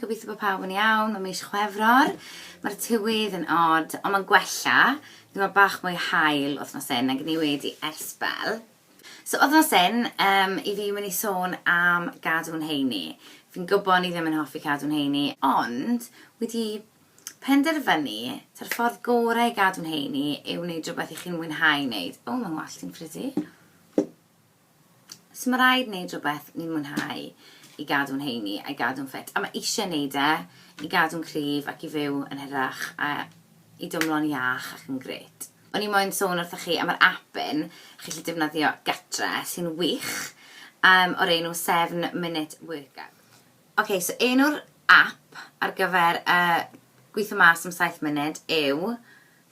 gobeithio bod pawb yn iawn, mae mis chwefror, mae'r tywydd yn od, ond mae'n gwella, ddim mae bach mwy hael wythnos hyn nag ni wedi ers bel. So wythnos hyn, um, i fi mynd i sôn am gadw'n heini. Fi'n gwybod ni ddim yn hoffi cadw'n heini, ond wedi Penderfynu, ta'r ffordd gorau i gadw'n heini yw wneud rhywbeth i chi'n mwynhau wneud. O, mae'n wallt i'n pretty. So mae rhaid wneud rhywbeth ni'n mwynhau i gadw'n heini a'i gadw'n ffit. A mae eisiau wneud e i gadw'n cryf ac i fyw yn hirach a i dymlo'n iach ac yn gret. O'n i moyn sôn wrthych chi am yr app un chi'n gallu defnyddio gatre sy'n wych, um, o'r enw Seven Minute Workout. Ok, so enw'r app ar gyfer y gweithio mas am saith munud yw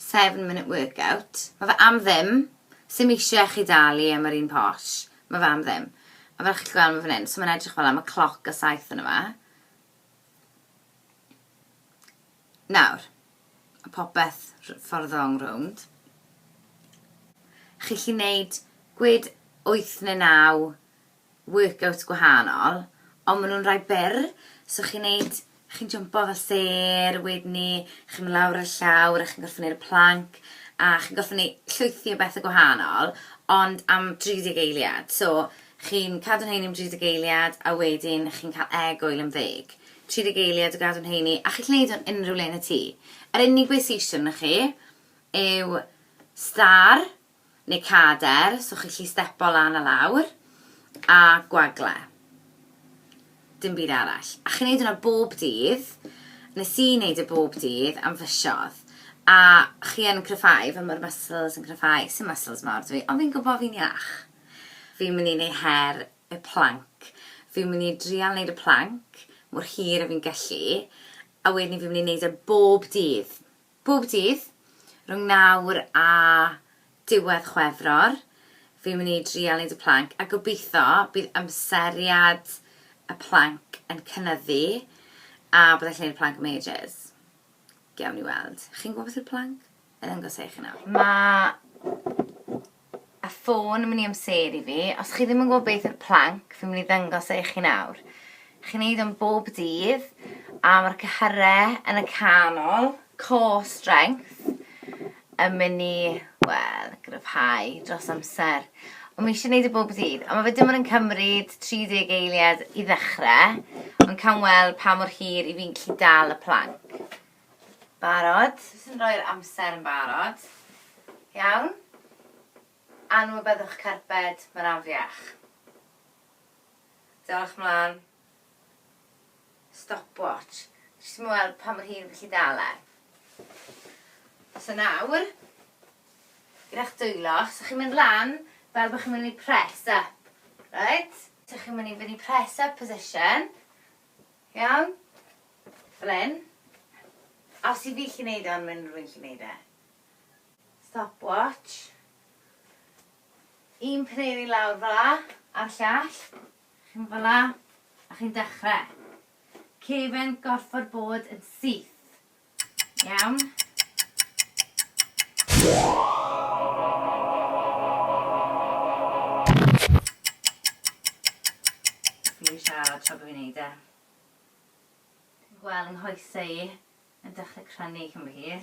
Seven Minute Workout. Mae fe am ddim, sim eisiau chi dalu am yr un posh, mae fe am ddim. A fel chi'n gweld mae fan hyn, so mae'n edrych fel am y cloc a saith yn yma. Nawr, a popeth ffordd ong rownd. Chi'n chi wneud gwyd 8 neu 9 workouts gwahanol, ond maen nhw'n rhai byr, so chi'n neud, chi'n jympo fel sêr, wedyn 'ny chi'n mynd lawr ar y llawr a chi'n gorfod neud y planc, a chi'n gorfod neu- llwythi o bethe gwahanol, ond am 30 eiliad, so chi'n cadw'n heini am 30 eiliad a wedyn chi'n cael egwyl am ddeg, 30 eiliad o gadw'n heini, a chi'n gallu neud hwn unrhyw le yn y tŷ. Yr unig beth sy isie arnoch chi yw stâr, neu cader, so chi'n gallu stepo lan a lawr, a gwagle. Dim byd arall. A chi'n neud hwnna bob dydd, nes i neud e bob dydd am fisodd, a chi yn cryfhau, fel ma'r muscles yn cryfhau, sim muscles mawr dw i, ond fi'n gwbo fi'n iach. Fi'n mynd i neu' her y planc, fi'n mynd i drial neud y planc mor hir a fi'n gellu, a wedyn fi'n mynd i neud e bob dydd. Bob dydd, rhwng nawr a diwedd Chwefror, fi'n mynd i drial neud y plank a gobeitho bydd amseriad y plank yn cynyddu a byddai'n gallu neud y plank am ages. Gewn ni weld. Chi'n gwybod beth yw'r plank? Wna i ddangos e i chi nawr. Mae A ffôn yn mynd i amseru fi. Os chi ddim yn gwybod beth yw'r plank, fi'n mynd i ddangos e i chi nawr. Chi'n neud o'n bob dydd, a mae'r cyhyre yn y canol, core strength, yn mynd i, wel, gryfhau dros amser. Ond mae eisiau gwneud y e bob dydd. A mae fe dim ond yn cymryd 30 eiliad i ddechrau, ond cawn weld pa mor hir i fi'n gallu dal y plank. Barod? Jyst yn rhoi'r amser yn barod. Iawn. Anwybyddwch carped, mae'n afiach. Dewch mlaen. Stopwatch. Jyst i mi weld pa mor hir fi'n gallu dal e. So nawr, gyda'ch dwylo, os ydych chi'n mynd lan, fel bod chi'n mynd i press up, reit? Os ydych chi'n mynd i fynd i press up position, Iawn? Flin. A os yw fi gallu neud e ond ma' unrhyw un gallu neud e. Stopwatch. Un paneli lawr fel 'a, a'r llall. Chi'n mynd fel 'a, a chi'n dechre. Cefn gorffod bod yn syth. Iawn. Fi'n siarad tra bod fi'n neud e. Fi'n gweld yng nghoesau i yn dechrau crynu cyn bo hir.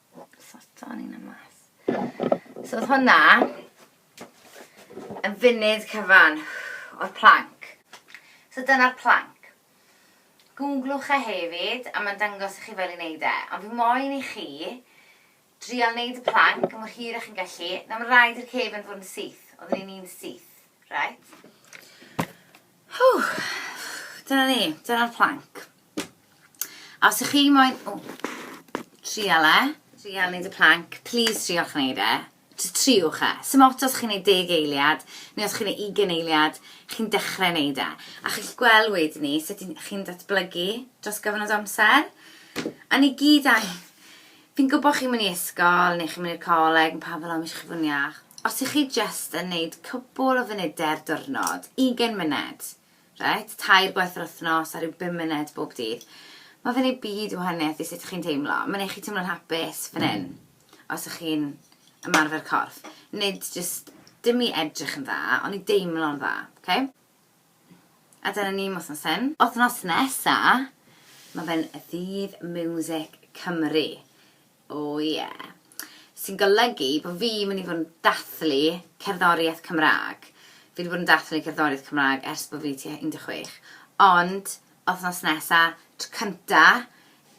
Satan un am mas. So oedd hwnna yn funud cyfan o'r planc. So dyna'r planc. Googlwch e hefyd a mae'n dangos i chi fel i wneud e. Ond fi moyn i chi drial wneud y planc mor hir â chi'n gallu. Na mae'n rhaid i'r cefn fod yn syth. Oedden ni'n un syth. Right? Hw! Dyna ni. Dyna'r planc. A os ych chi moyn... O, trial e. Trial neud y plank. Please triwch neud e. Jyst triwch e. Sdim ots os chi'n neud deg eiliad, neu os chi'n neud ugain eiliad, chi'n dechrau neud e. A chi'll gweld wedyn ni sut chi'n datblygu dros gyfnod amser. A ni gyd angen... Fi'n gwybod chi'n mynd i ysgol, neu chi'n mynd i'r coleg, ma' pawb fel 'o ma eisiau fod yn iach. Os ych chi jyst yn neud cwpwl o funudau'r diwrnod, ugain munud, Reit, tair gwaith yr wythnos a rhyw bum munud bob dydd. Mae fe'n ei byd o wahaniaeth i sut chi'n teimlo. Mae'n ei chi teimlo'n hapus fan hyn, os ych chi'n ymarfer corff. Nid jyst dim i edrych yn dda, ond i deimlo'n dda. Ok? A dyna ni am wythnos hyn. Wythnos nesa, mae fe'n ddydd miwsic Cymru. O ie. Sy'n golygu bod fi mynd i fod yn dathlu cerddoriaeth Cymraeg. Fi 'di bod yn dathlu cerddoriaeth Cymraeg ers bod fi tua 16. Ond, wythnos nesa, tro cynta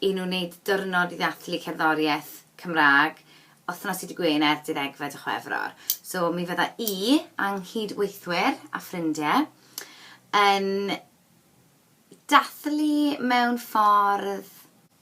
i nhw wneud diwrnod i ddathlu cerddoriaeth Cymraeg, wythnos dydd Gwener, deuddegfed o Chwefror. So, mi fydda i a 'nghyd-weithwyr a ffrindie yn dathlu mewn ffordd